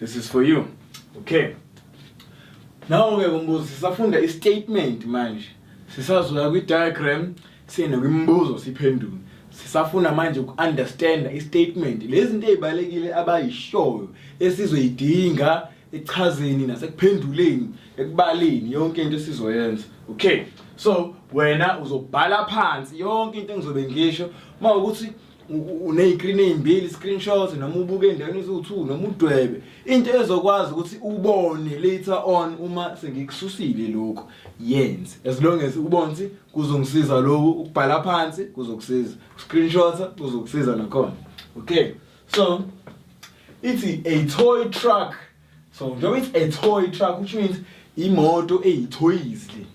This is for you. Okay. Now ke kumbuzo sisafunda i statement manje. Sisazoya kwi diagram sine kwimbuzo siphendule. Sisafuna manje uku understand i statement. Lezi zinto ezibalekile abayishoyo esizoyidinga echazeni nasekuphenduleni ekubaleni yonke into esizoyenza. Okay. So wena uzobhala phansi yonke into engizobe ngisho mawukuthi uney'krini ey'mbili screenshot noma ubuke endaweni eziwu-two noma udwebe into ezokwazi ukuthi ubone later on uma sengikususile lokhu yenze as long as ubone ukuthi kuzongisiza lokhu ukubhala phansi kuzokusiza screenshota kuzokusiza nakhona okay so ithi a toy truck so njengoba ithi a toy truck which means imoto eyithoyizi le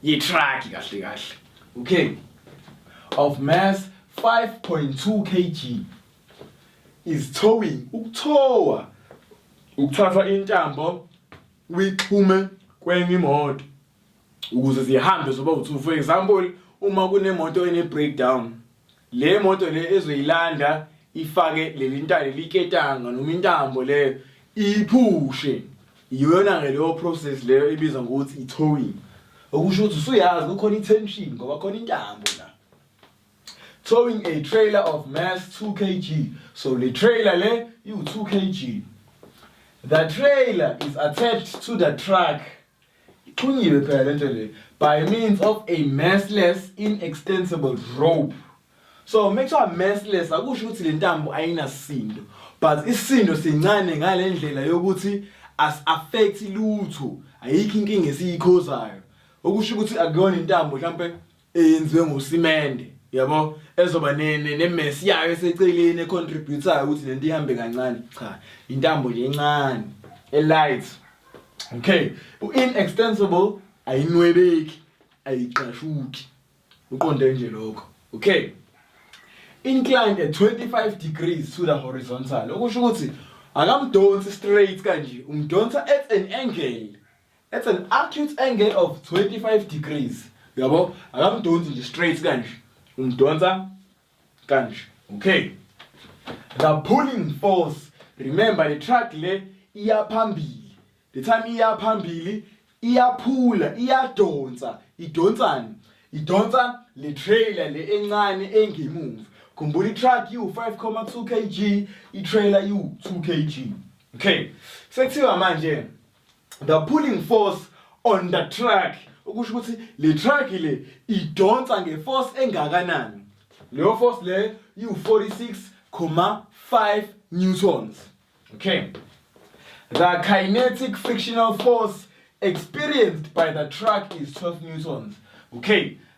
yitruck kahle kahle okay of mass 5.2 kg is towing ukuthowa ukuthathwa intambo uyixhume kwenye imoto ukuze zihambe zoba u2 for example uma kunemoto ene breakdown le moto le ezoyilanda ifake leli ntale liketanga noma intambo leyo iphushe iyona ke leyo process leyo ibizwa ngokuthi i-towing okusho ukuthi usuyazi kukhona i-tension ngoba khona intambo la towing a trailer of mass 2 kg so le trailer le iwu-2 kg the trailer is attached to the truck ixhunyiwe phela lento le by means of a massless inextensible rope so make sure massless akusho ukuthi le ntambo ayinasindo but isindo sincane ngale ndlela yokuthi as affect lutho ayikho inkinga esiyikhozayo okusho ukuthi akuyona intambo mhlawumbe eyenziwe ngosimende yabo ezoba nemesi yayo eseceleni econtributayo ukuthi lento ihambe kancane cha intambo nje encane elight okay u-inextensible ayinwebeki ayiqashuki uqonde nje lokho okay inclined at 25 degrees to the horizontal okusho ukuthi akamdonsi straight kanje umdonsa at an angle It's an acute angle of 25 degrees. Yabo, akamdonsi nje straight kanje. Umdonsa kanje. Okay. The pulling force. Remember the track le iya phambili. The time iya phambili iyaphula, iyadonsa. Idonsani? Idonsa le trailer le encane engemuva. Khumbula i-truck iwu-5,2 kg, i-trailer iwu-2 kg. Okay. Sekuthiwa manje the pulling force on the track ukusho ukuthi le track le idonsa ngeforce engakanani leyo force le iwu-46,5 newtons okay the kinetic frictional force experienced by the truck is 12 newtons okay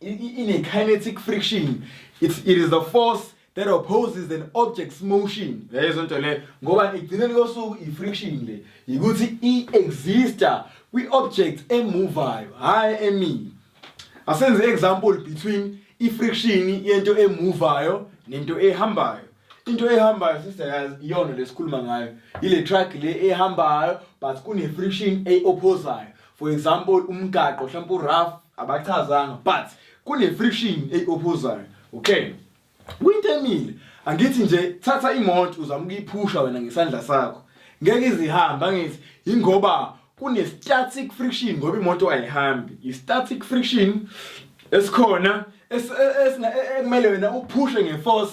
in a kinetic friction it's, it is the force that opposes an object's motion yayizwa nto leyo ngoba igcineni kosuku i-friction le yikuthi i-exista kwi-object emuvayo hhayi emini asenze i-example between i-friction yento emuvayo nento ehambayo into ehambayo sister yazi iyona lesikhuluma ngayo ile truck le ehambayo but kune friction eyophosayo for example umgaqo mhlawumbe urough abachazanga but kune-friction eyi-ophosayo okay kwinto emile angithi nje thatha imoto uzama ukuyiphusha wena ngesandla sakho ngeke izihambe angithi yingoba kune-static friction ngoba imoto ayihambi i-static friction esikhona ekumele wena uphushe ngeforce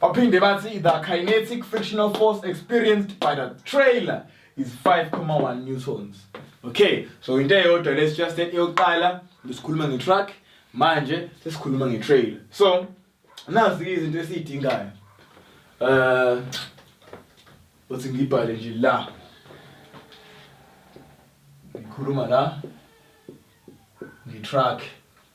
Baphinde bathi the kinetic frictional force experienced by the trailer is 5,1 newtons. Okay, so into eyodwa let's just that eyokuqala besikhuluma ngetruck manje sesikhuluma ngetrailer. So nazi izinto esiyidingayo. Uh uthi ngibhale nje la. Ngikhuluma la ngetruck.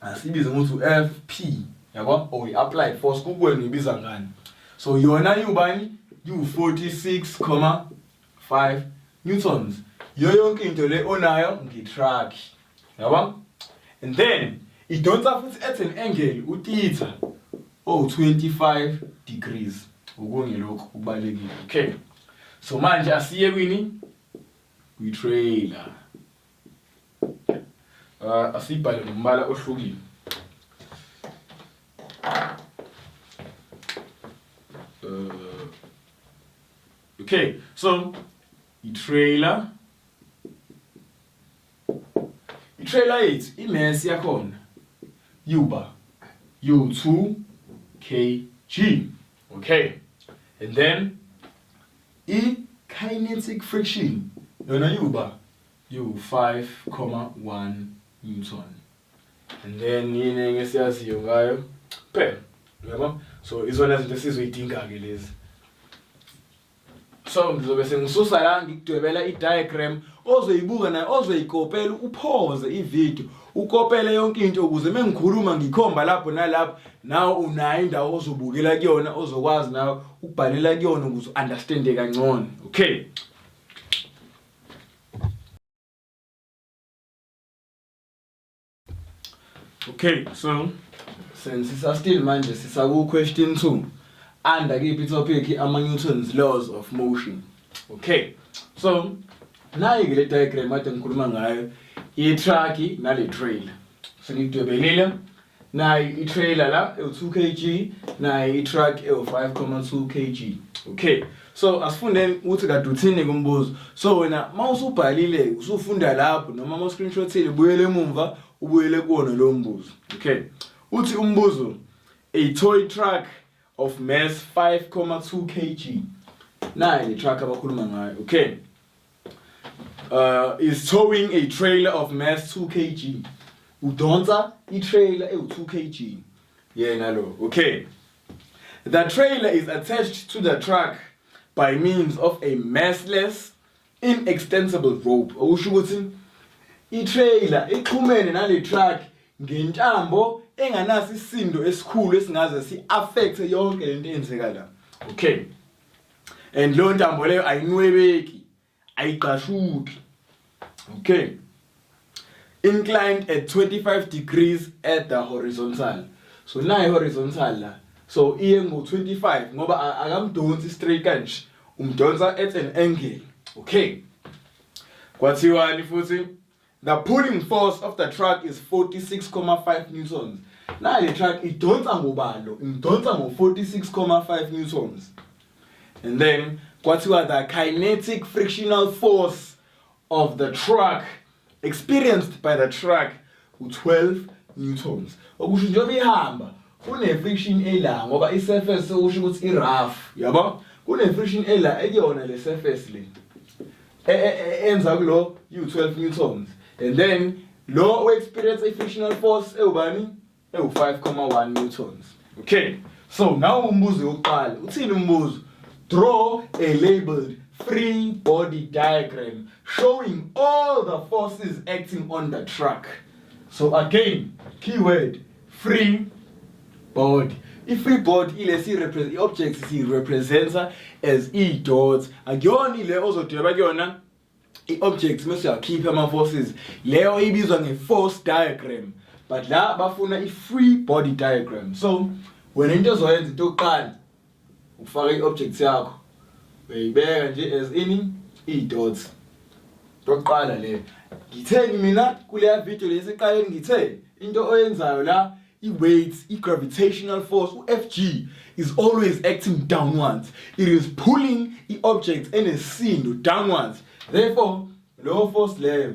asibize ukuthi u-fp yabo or i-apply force kukwenu ibiza ngani so yona iwubani iwu-46,5 newtons yiyo yonke into le onayo ngetruck yabo and then idonsa futhi at an angle utitha owu-25 degrees okunye lokhu kubalulekile okay so manje asiye kwini kwi-trailer Ah, asibhale ngombala ohlukile. Uh, okay, so i-trailer i-trailer yethu i-mass yakhona yuba u2 kg okay and then i-kinetic friction yona yuba liwu-5.1 newton and then yini enye esiyaziyo ngayo kuphela uyabo so izona zinto esizoyidinga-ke lezi so ngizobe sengisusa la ngikudwebela i-diagram ozoyibuka naye ozoyikopela uphoze ividiyo ukopele yonke into ukuze uma ngikhuluma ngikhomba lapho nalapho nawe unayo indawo ozobukela kuyona ozokwazi nawe ukubhalela kuyona ukuze u-understande kangcono okay Okay, so sensisa still manje sisaku question 2 under kiphi topic ama Newton's laws of motion. Okay. So nayi ke le diagram ade ngikhuluma ngayo i truck nale trailer. Sengidwebelile nayi i-trailer la ewu-2 kg nayi i-truck ewu-5,2 kg okay so asifundeni ukuthi kade uthini kumbuzo so wena uma usubhalile usufunda lapho noma uma uscreenshothile buyele emumva ubuyele kuwona lowo mbuzo okay uthi umbuzo a toy truck of mass 5,2 kg nayi le truck abakhuluma ngayo okay uh, is towing a trailer of mass 2 kg udonsa i-trailer ewu-2 kg yena lo okay the trailer is attached to the truck by means of a massless inextensible rope okusho ukuthi i-trailer ixhumene nale truck ngentambo enganaso isindo esikhulu esingaze si-affecthe yonke lento eyenzeka la okay and leyo ntambo leyo ayinwebeki ayigqashuki okay inclined at 25 degrees at the horizontal so nayi horizontal la so iye ngo 25 ngoba akamdonsi straight kanje umdonsa at an angle okay kwathiwani futhi The pulling force of the truck is 46,5 newtons. Na le truck idonsa ngobalo, idonsa ngo 46,5 newtons. And then kwathiwa the kinetic frictional force of the truck experienced by the truck u 12 newtons. Okusho njengoba ihamba kune friction ela ngoba i surface usho ukuthi i rough, yabo? Kune friction ela ekuyona le surface le. e, e, e, enza kulo u12 newtons and then lo we-experience i-frictional force ewubani ewu-5,1 newtons okay so nawo umbuzo wokuqala uthini umbuzo draw a labeled free body diagram showing all the forces acting on the truck so again keyword free board i-free board ilesi i-object siyi-representa as i-dot akuyona ile ozodweba kuyona i-object mese uyakhipha ama-forces leyo ibizwa nge-force diagram but la bafuna i-free body diagram so wena into ozoyenza into yokuqala Ufaka i-object yakho uyayibeka nje as ini i-dots. Ntokuqala le ngitheni mina kuleya video le eseqaleni ngithe into oyenzayo la i-weights i-gravitational force u-fg is always acting downwards it is pulling i-object enesisindo downwards therefore leyo force leyo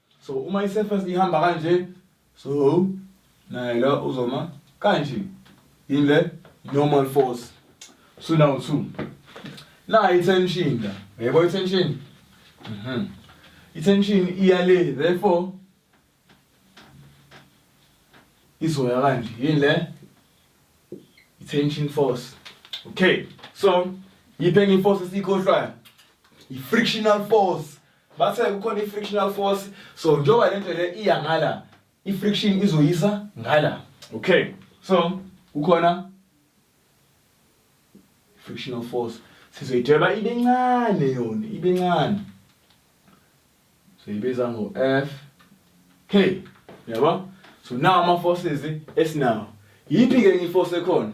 so uma i-surface ihamba kanje so naye la uzoma kanje yini le normal force so now two nayo i-tension la yebo i-tension mhm i-tension iya le therefore izoya kanje yini le i-tension force okay so yiphi enye i-force esiyikhohlwayo i-frictional force Bathe kukhona i-frictional force so njengoba le nto le iya ngala i-friction izoyisa ngala. Okay. So kukhona frictional force sizoyidweba ibe ncane yona ibe ncane siyibiza ngo F K yabo so now ama forces esinawo yiphi ke enye iforce ekhona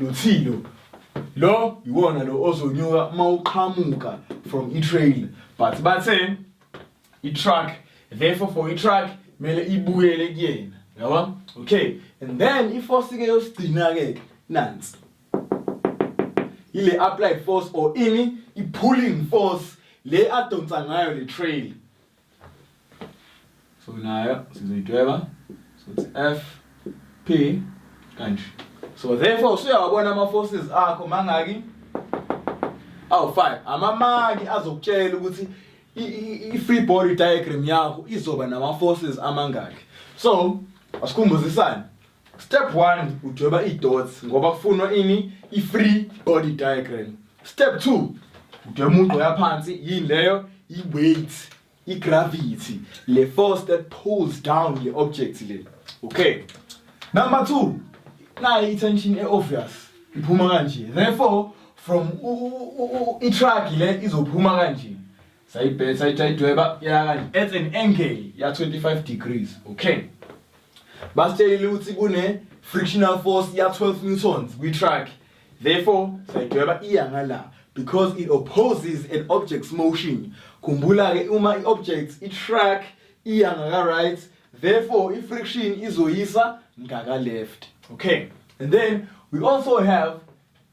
Luthilo lo iwona lo ozonyuka uma uqhamuka from i-trail but bathe i-truck therefore for i-truck kumele ibuyele kuyena yabo okay and then iforce ke yosigcina-ke nansi ile applied force or ini i-pulling force le adonsa ngayo le trail so nayo sizoyidweba sothi f p kanje so therefore usuyawabona ama-forces akho mangaki awu-five amamaki azokutshela ukuthi i-free body diagram yakho izoba nama-forces amangaki so asikhumbuzisane Step 1 udweba idots ngoba kufunwa ini ifree body diagram. Step 2 udweba umugqo yaphansi yini leyo iweight igravity le force that pulls down le object le. Okay. Number 2 nayi itension eobvious iphuma kanje. Therefore from i-truck le izophuma kanje. sayibheka sayidweba yakanye at an angle ya 25 degrees okay basitshelile ukuthi kune frictional force ya 12 newtons kwi truck therefore sayidweba iya ngala because it opposes an object's motion khumbula ke uma i object i truck iya ngaka right therefore i friction izoyisa ngaka left okay and then we also have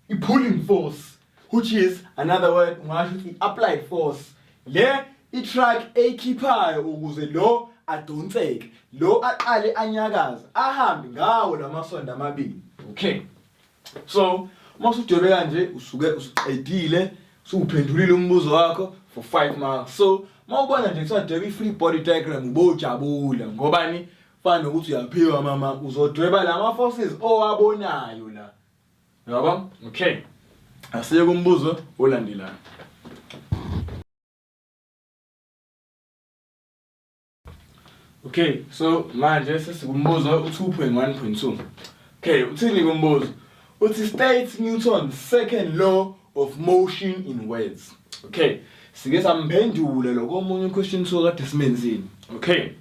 i pulling force which is another word ungasho ukuthi i-applied force le i-truck eyikhiphayo ukuze lo adonseke lo aqale anyakaze ahambe ngawo lamasondo amabili okay so uma usudwebe kanje usuke usuqedile usuphendulile umbuzo wakho for 5 marks so uma ubona nje kuthiwa dweba i-free body diagram ubojabula ngobani fana nokuthi uyaphiwa mama uzodweba lama-forces owabonayo la Yabo? Okay. Asiye kumbuzo olandelayo. Okay, so manje sesikumbuzo u2.1.2. Okay, uthini kumbuzo? Uthi state Newton's second law of motion in words. Okay, sike samphendule lokho omunye question so kade simenzini. Okay.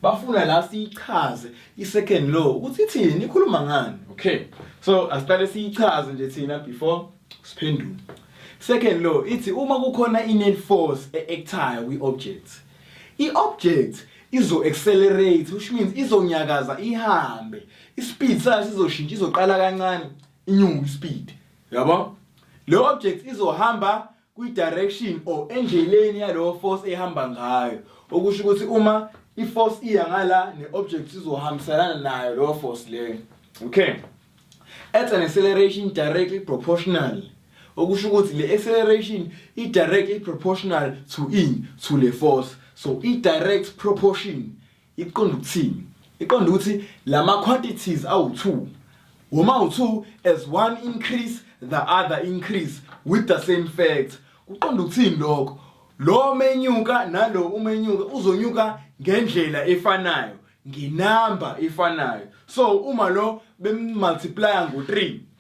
bafuna la siyichaze i-second law ukuthi ithini ikhuluma ngani okay so asiqale siyichaze nje thina before siphendule second law ithi uma kukhona i-net force e-actayo kwi-object i-object izo-accelerate which means izonyakaza ihambe ispeed sayo sizoshintsha izoqala kancane inyuke ispeed yabo le object izohamba kwi-direction or endleleni yalowo force ehamba ngayo okusho ukuthi uma i-force iya ngala ne-object izohambiselana nayo lowo force leyo okay at an acceleration directly proportional okusho ukuthi le acceleration i-directly proportional to in to le force so i-direct proportion Iqonda ukuthini? Iqonda ukuthi la ma-quantities awu-two woma awu-two as one increase the other increase with the same fact kuqonda ukuthini lokho lo menyuka nalo umenyuka uzonyuka ngendlela efanayo ngenamba efanayo so uma lo bemmultiplya ngo-three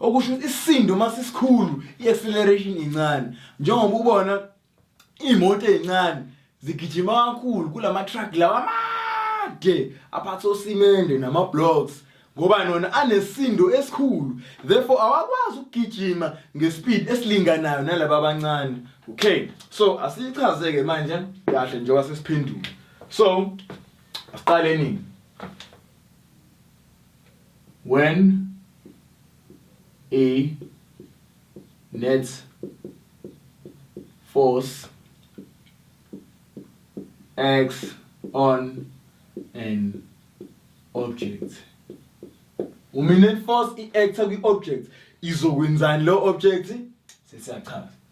okusho ukuthi isisindo uma sisikhulu i-acceleration incane njengoba ubona iy'moto ey'ncane zigijima kakhulu kula ma-truck lawa amade aphatha osimende nama-blocks ngoba nona anesindo esikhulu therefore awakwazi ukugijima ngespeed esilinganayo nalaba abancane okay so asiyichaze-ke manje kahle njengoba sesiphendula so asiqale nini When a net force acts on an object uma i-net force i-actha kwi-object izokwenzani leyo object sesiyachaza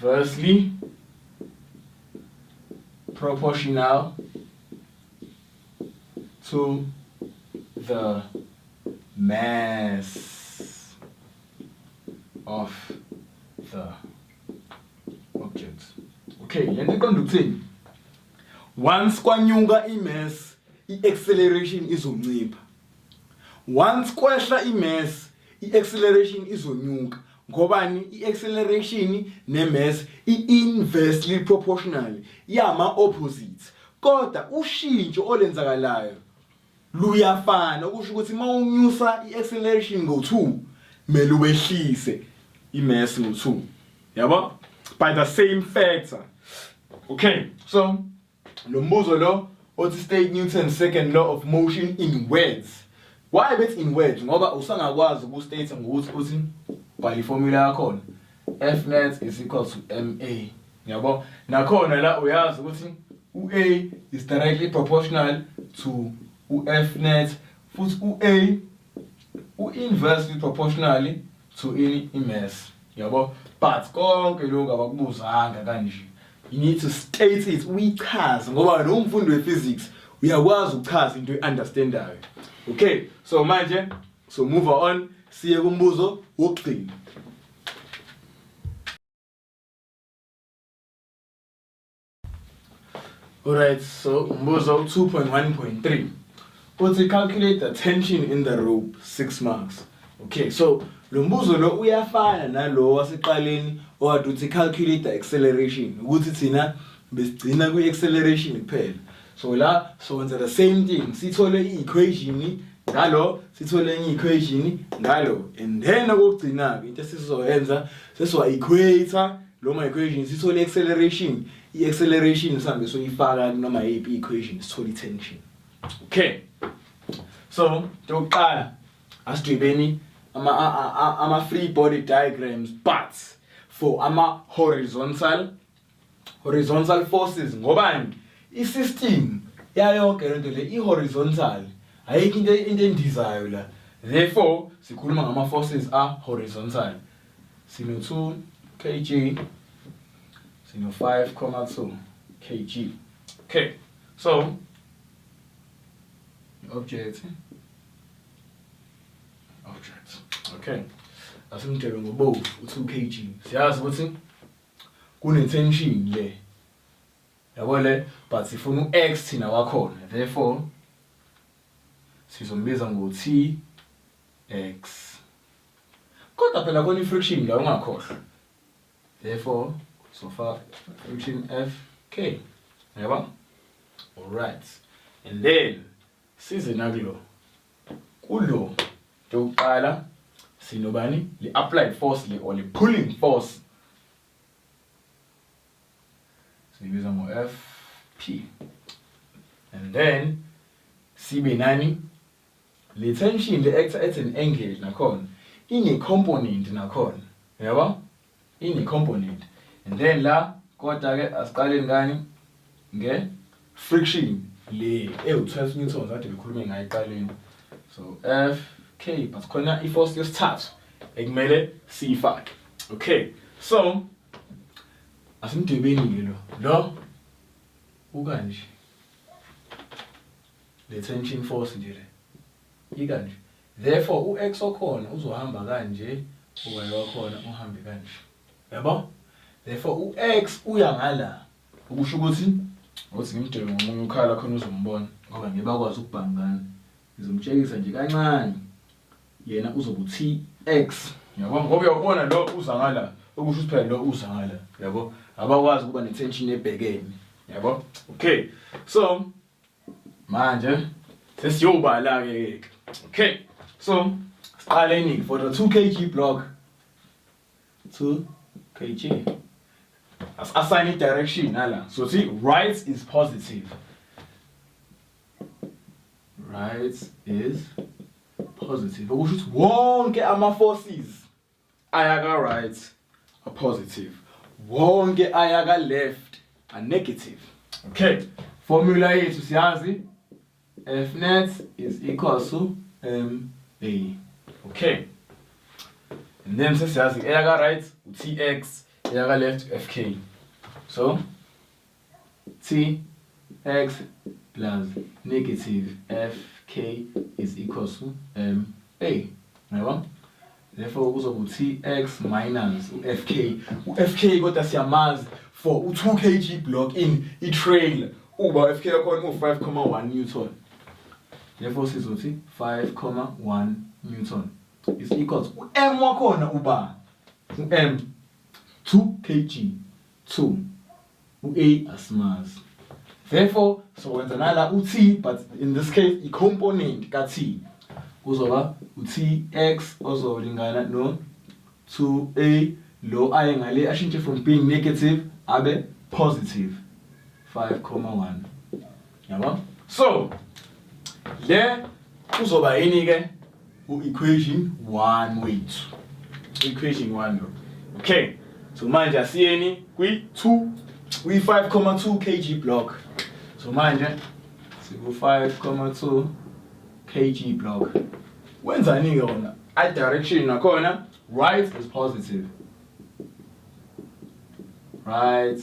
versely proportional to the mass of the object okay le nto iqonda ukuthini once kwanyuka imass i-acceleration izoncipha once kwehla imass i-acceleration izonyuka ngobani i-acceleration ne-mass i-inversely proportional yama-opposite kodwa ushintsho olenzakalayo luyafana okusho ukuthi uma unyusa i-acceleration ngo-2 kumele uwehlise i-mass ngo-2 yabo by the same factor okay so Lo mbuzo lo othi state Newton's second law of motion in words. Why bethi in words ngoba usangakwazi uku state ngokuthi uthi bhala iformula yakhona. F net is equal to MA. Yabo? Nakhona la uyazi ukuthi uA is directly proportional to uF net futhi uA u-inversely proportionally to in imess yabo but konke lokho abakubuzanga kanje you need to state it uyichaze ngoba wena umfundi wephysics uyakwazi ukuchaza into eunderstandayo okay so manje so move on siye kumbuzo wokugcina Alright, so umbuzo u 2.1.3 uthi calculate the tension in the rope 6 marks. Okay, so lo mbuzo lo uyafana nalo waseqaleni owade uthi calculate the acceleration ukuthi thina besigcina kwi acceleration kuphela. So la so wenza the same thing sithole i equation ngalo sithole enye equation ngalo and then okugcina ke into esizoyenza sesiwa equator Lo migration sithole acceleration, i-acceleration sihambe soyifaka noma yiphi equation sithole i-tension. Okay. So, yokuqala asidwebeni ama ama free body diagrams but for ama horizontal horizontal forces ngobani i-system yayonke lento le i-horizontal ayikho into into endizayo la therefore sikhuluma ngama forces a horizontal Sino-2 kg, sino-5,2 kg. Okay, so object object okay asimdebe ngobovu u-2 kg siyazi ukuthi kune-tension le yabo le but sifuna u-x thina wakhona therefore sizombiza ngo-t x Kodwa phela khona i-friction la ungakhohlwa. Therefore sofaka friction FK. Yaba? Alright. And then size nakulo. Kulo yokuqala sinobani? Le applied force le or le pulling force. Sibiza ngo FP. And then sibe nani? Le tension le actor as an angle nakhona ine component nakhona yabo ine component and then la kodwa ke asiqaleni ngani nge friction le ewu 12 newtons kade ngikhulume ngayo eqaleni so f k but khona i force yesithathu ekumele siyifake okay so asimdwebeni ke lo lo ukanje Detention force nje le. Yika nje. Therefore u ex okhona uzohamba kanje u y wakhona uhambe kanje. Yabo? Therefore u ex uya ngala. Ukusho ukuthi ngothi ngimdebe ngomunye ukhala khona uzombona ngoba ngeke bakwazi ukubhangana. Ngizomtshekisa nje kancane. Yena uzoba u T ex. Yabo? Ngoba uyawubona lo uza ngala. Ukusho ukuthi phela lo uza ngala. Yabo? Abakwazi ukuba ne tension ebhekene. Yabo? Okay. So Manje sesiyobala ke ke. Okay. So siqale iningi for the 2 kg block. 2 kg. As assign i direction nala. So see right is positive. Right is positive. Okusho ukuthi wonke ama forces ayaka right a positive wonke ayaka left a negative okay formula yethu siyazi f net is equal to m a okay and then sesiyazi eyaka right u tx eyaka left u fk so T, X plus negative F, K is equals to M, A. Yabo? Therefore kuzoba u-Tx minus u-F, K. U-F, K kodwa siyamazi for u-2 kg block in i-trailer. Uba u-F, K yakhona u-5,1 Newton. Therefore sizothi 5,1 Newton is equals u-M wakhona uba u-M 2 kg. 2 u-a asimazi therefore sokwenza nala u-t but in this case i-component ka-t kuzoba u-tx ozolingana no-2a lo aye ngale ashintshe from being negative abe positive 5,1 yabo so le kuzoba yini ke u equation 1 wethu equation 1 lo okay so manje asiyeni kwi 2 kwi 5,2 kg block so manje siku 5,2 kg block wenzani ke wona i direction nakhona right is positive right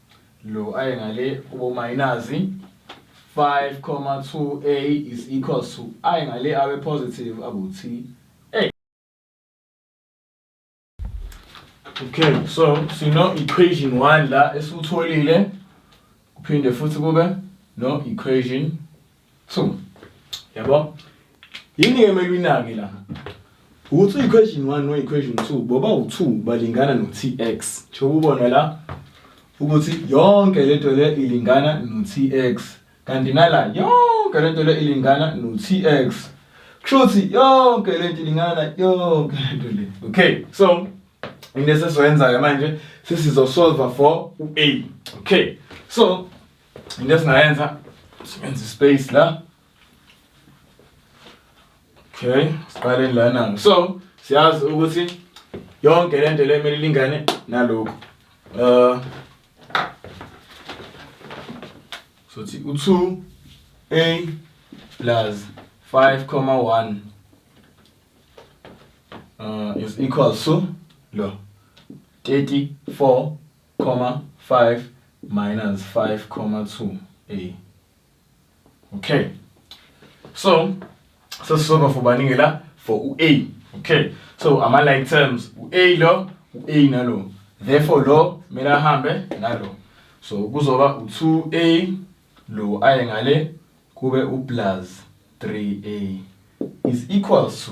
Lo aye ngale kubo minus 5,2a is equals to aye ngale awe positive akuthi Okay, so sino equation 1 la esutholile kuphinde futhi kube no equation so yabo yini ke mele uyinake la ukuthi uyi-question one noyi-question two boba u-two balingana no-tx njengoba ubona la ukuthi yonke lento le ilingana no-tx kanti nala yonke lento le ilingana no-tx kusho ukuthi yonke lento ilingana yonke lento le okay so into esesizoyenza-ke manje sesizosolva for u-a okay so into esingayenza sibenza ispace la okay siqaleni lana so siyazi ukuthi yonke lento le kumele ilingane nalokhu uh sothi u2 a plus 5,1 uh, is equal to lo 34 comma 5 minus 5 comma 2 a okay so sesizova for baningi la for u-a okay so ama-like terms u-a lo u-a nalo therefore lo kumele ahambe nalo so kuzoba u-2a lo aye ngale kube u-plus 3a is equals to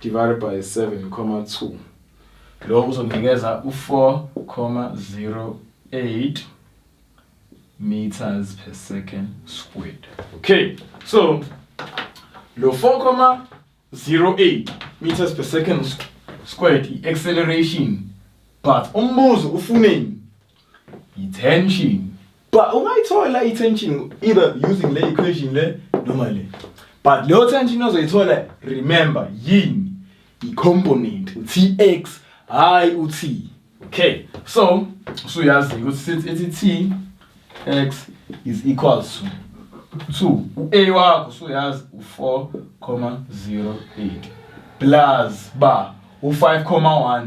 divided by 7,2 lokho kuzonikeza u-4,08 meters per second squared okay so lo 4,08 meters per second squared i-acceleration but umbuzo ufuneni Yi-tension. But ungayithola i-tension either using le equation le noma le. But leyo tension ozoyithola remember yini? I-component u-tx hhayi u-t. Okay. So usuyazi ukuthi sithi ithi t x is equals to 2 u-a wakho usuyazi u-4 comma 08 plus ba u-5 comma 1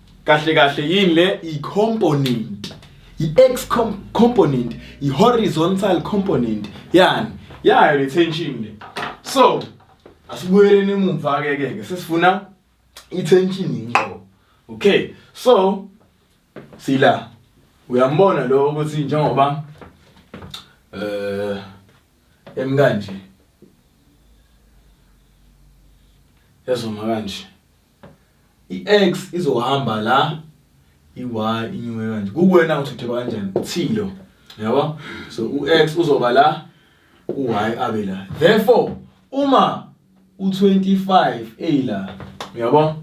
kahle kahle yini le i-component i-x component i-horizontal component yani yayo le tension le so asibuyeleni emumva ke ke sesifuna i-tension inqo okay so sila uyambona lo ukuthi njengoba eh emkanje yazoma kanje I-X izohamba la i-Y inyuke kanje kukuwena ukuthi udeba kanjani uthilo yabo so u-X uzoba la u-Y abe la therefore uma u-25 eyila uyabo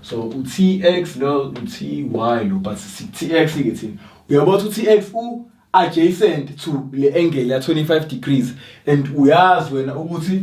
so u-TX lo u-TY lo but si-TX ke thina uyabo ukuthi u-TX u adjacent to le angle ya 25 degrees and uyazi wena ukuthi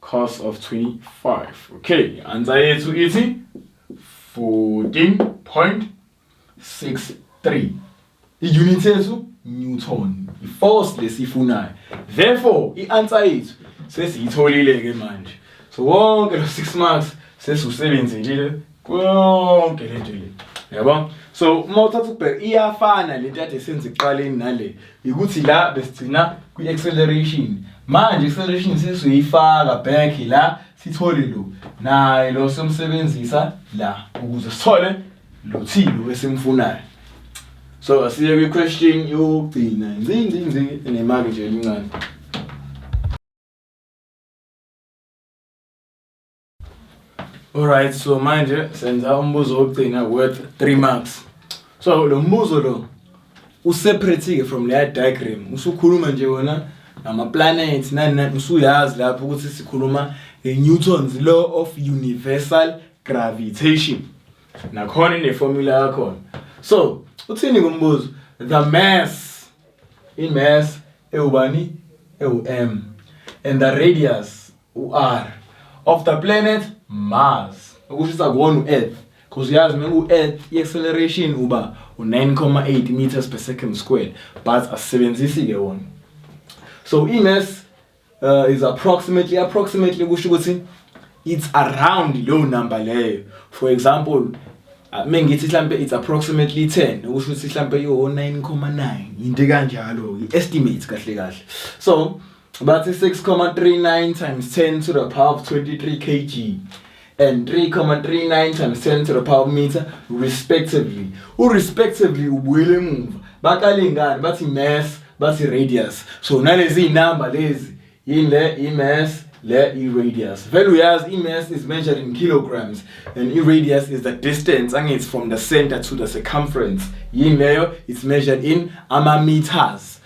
cos of 25 okay answer yethu ithi 14.63 i-unit yethu newton i-force lesifunayo therefore i-answer yethu sesiyitholile-ke manje so wonke lo 6 marks sesiwusebenzile konke lento le yabo so uma uthatha ubheka iyafana lento kade senze ekuqaleni nale ukuthi la besigcina kwi-acceleration manje i-acceleration sesizoyifaka back la sithole lo naye lo somsebenzisa la ukuze sithole lo thilo esimfunayo so asiye kwi-question yokugcina nzinzinzi enemaki nje elincane Alright so manje senza umbuzo wokugcina worth 3 marks. So lo mbuzo lo useparate-ke from leya diagram usukhuluma nje wona ngama-planets nani nani usuyazi lapho ukuthi sikhuluma nge-newtons law of universal gravitation nakhona ineformula yakhona so uthini kumbuzo the mass i-mass ewubani ewu-m and the radius U-R of the planet Mars. Ukushisa kuwona u-Earth. Cause uyazi uma ku-Earth i-acceleration uba u-9,8 meters per second squared but asisebenzisi ke wona. So i-mass uh, is approximately approximately kusho ukuthi it's around leyo number leyo. For example Ah, mengithi mhlambe it's approximately 10 ukusho ukuthi mhlambe yo 9,9 into kanjalo i estimate kahle kahle so Bathi 6,39 times 10 to the power of 23 kg and 3,39 times 10 to the power meter respectively. U respectively ubuyele emuva. Baqale ngani bathi mass bathi radius. So nalezi inamba lezi yini le i mass le i radius. Vele uyazi i mass is measured in kilograms and i radius is the distance angithi from the center to the circumference. Yini leyo it's measured in ama meters.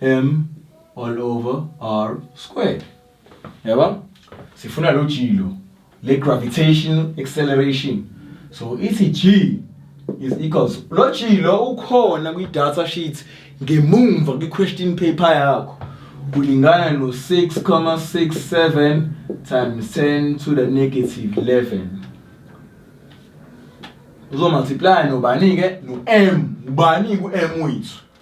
M all over R squared. Yaba? Sifuna lo G lo. Le gravitational acceleration. So ithi G is equals lo G lo ukhona kwi data sheet ngemumva kwi question paper yakho. Kulingana no 6,67 times 10 to the negative 11. Uzo multiply nobani ke no M. Ubani ku M wethu?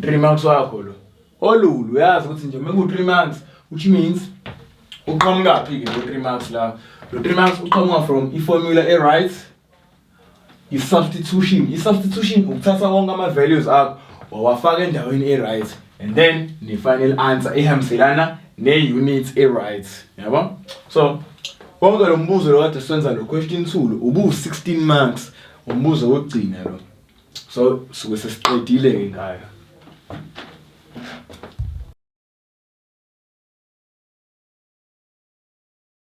3 months wakho lo olulu uyazi ukuthi nje mengu 3 months which means uqhamuka phi ke lo 3 months la lo 3 months uqhamuka from i formula e right i substitution i substitution ukuthatha wonke ama values akho wawafaka endaweni e right and then ne final answer ehambiselana ne unit e right yabo so konke lo mbuzo lo kade senza lo question 2 lo ubu 16 marks umbuzo wokugcina lo so suke sesiqedile ke ngayo